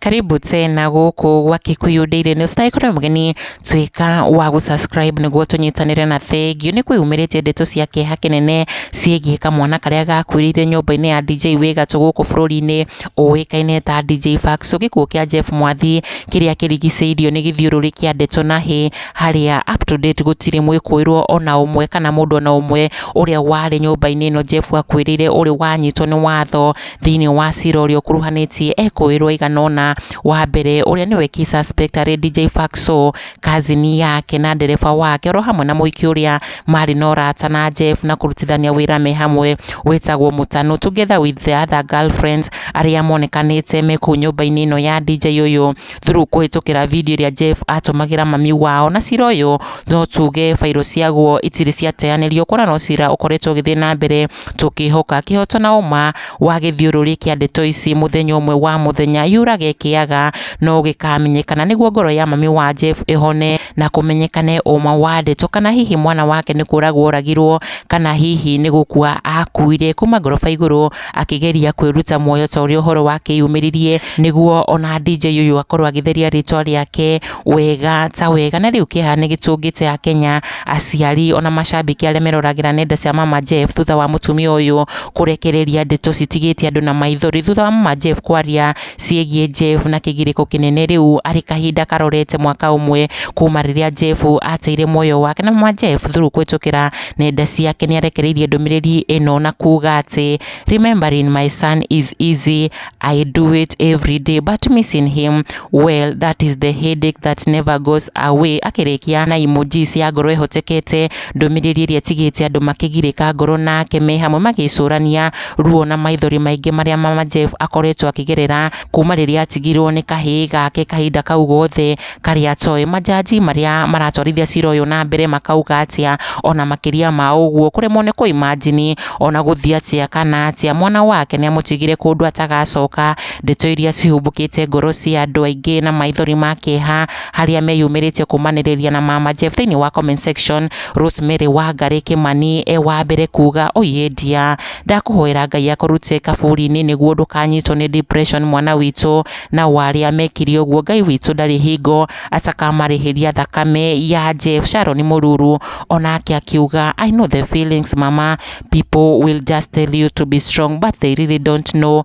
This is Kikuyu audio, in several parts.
karibu tena gũkũ gwa Kikuyu Daily News na ĩkorwo mũgeni tuĩka wa gũsubscribe nĩguo tũnyitanĩre na thengiũ nĩ kwĩyumĩrĩtie ndeto cia kĩeha kĩnene ciĩgiĩ kamwana karĩa gakuĩrĩire nyũmba-inĩ ya DJ Wĩgatũ gũkũ bũrũri-inĩ ũĩkaine ta DJ Faxo gĩkuũ kĩa Jeff Mwathi kĩrĩa kĩrigicĩirio nĩ gĩthiũrũrĩ kĩa ndeto na hĩ harĩa up to date gũtirĩ mwĩkũĩrwo ona ũmwe kana mũndũ ona ũmwe ũrĩa warĩ nyũmba-inĩ ĩno Jeff akwĩrĩire ũrĩ wanyitwo nĩ watho thĩinĩ wa cira ũrĩa ũkuruhanĩtie ekũĩrwo aigana ũna, wa mbere ũrĩa nĩwe key suspect arĩ DJ Faxo, cousin yake na ndereba wake oro hamwe na mũhiki ũrĩa marĩ na ũrata na Jeff na kũrutithania wĩra me hamwe wĩtagwo Mũtano together with the other girlfriends arĩa monekanĩte me kũu nyũmba-inĩ ĩno ya DJ ũyũ, through kũhĩtũkĩra video ĩrĩa Jeff atũmagĩra mami wao, na cira ũyũ no tuge bairũ ciaguo itirĩ ciateanĩrio, kuona no cira ũkoretwo ũgĩthiĩ na mbere tũkĩhoka kĩhoto na ũma wa gĩthiũrũrĩ kĩa ndeto ici mũthenya ũmwe wa mũthenya yurage kĩaga no gĩkamenyekana, nĩguo ngoro ya mami wa Jeff ĩhone na kũmenyekane ũma wa ndeto, kana hihi mwana wake nĩ kũragwo oragirwo, kana hihi nĩ gũkua akuire. Kuma ngoroba igũrũ akĩgeria kwĩruta muoyo ta ũrĩa ũhoro wake yumĩririe nĩguo ona DJ ũyũ akorwo agĩtheria rĩtwa rĩake wega ta wega na rĩu kĩeha nĩ gĩtũngĩte a Kenya aciari ona macambĩki arĩa meroragĩra nenda cia Mama Jeff thutha wa mũtumia ũyũ kũrekereria ndeto citigĩte andũ na maithori thutha wa Mama Jeff kwaria ciĩgiĩ Jeff na kĩgirĩko kĩnene rĩu arĩ kahinda karorete mwaka ũmwe kuma rĩrĩa Jeff ateire muoyo wake na mama Jeff through kũhĩtũkĩra nenda ciake nĩ arekereirie ndũmĩrĩri ĩno na kuga atĩ remembering my son is easy I do it every day but missing him well that is the headache that never goes away akĩrĩkia na emojis ya ngoro ĩhotekete ndũmĩrĩri ĩrĩa ĩtigĩte andũ makĩgirĩka ngoro nake me hamwe magĩcũrania ruo na maithori maingĩ marĩa mama Jeff akoretwo akĩgerera kuma rĩrĩa atigirwo nĩ kahĩĩ gake kahinda kau gothe karĩa atoĩ. Majaji marĩa maratwarithia cira ũyũ na mbere makauga atĩa ona makĩria ma ũguo kũremwo nĩ kũ imagine ona gũthiĩ atĩa kana atĩa mwana wake nĩ amũtigire kũndũ atagacoka. Ndeto iria cihumbũkĩte ngoro cia andũ aingĩ na maithori ma kĩeha. harĩa meyumĩrĩtie kũmanĩrĩria na mama Jeff thĩinĩ wa comment section Rosemary Wangari Kimani e wa mbere kuga oye ndia ndakũhoera Ngai akũrute kaburi-inĩ nĩguo ndũkanyitwo nĩ depression mwana witũ na warĩa mekire ũguo Ngai witũ ndarĩ hingo atakamarĩhĩria thakame ya Jeff Sharon Mũruru onake akiuga I know the feelings mama people will just tell you to be strong but they really don't know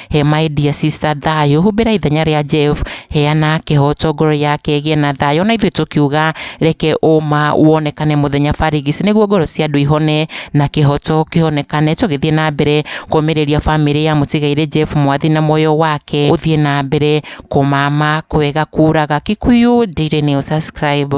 He my dear sister thayũ, humbĩra ithenya rĩa Jeff, heana kĩhoto ngoro yake ĩgĩe na thayũ, na ithuĩ tũkiuga reke ũma wonekane mũthenya barigis, nĩguo ngoro cia andũ ihone na kĩhoto kĩhonekane, tũgĩthiĩ na mbere kũmĩrĩria bamĩrĩ ya mũtigairĩ Jeff Mwathi na muoyo wake ũthiĩ na mbere kũmama kwega kuraga. Kikuyu Daily News, subscribe.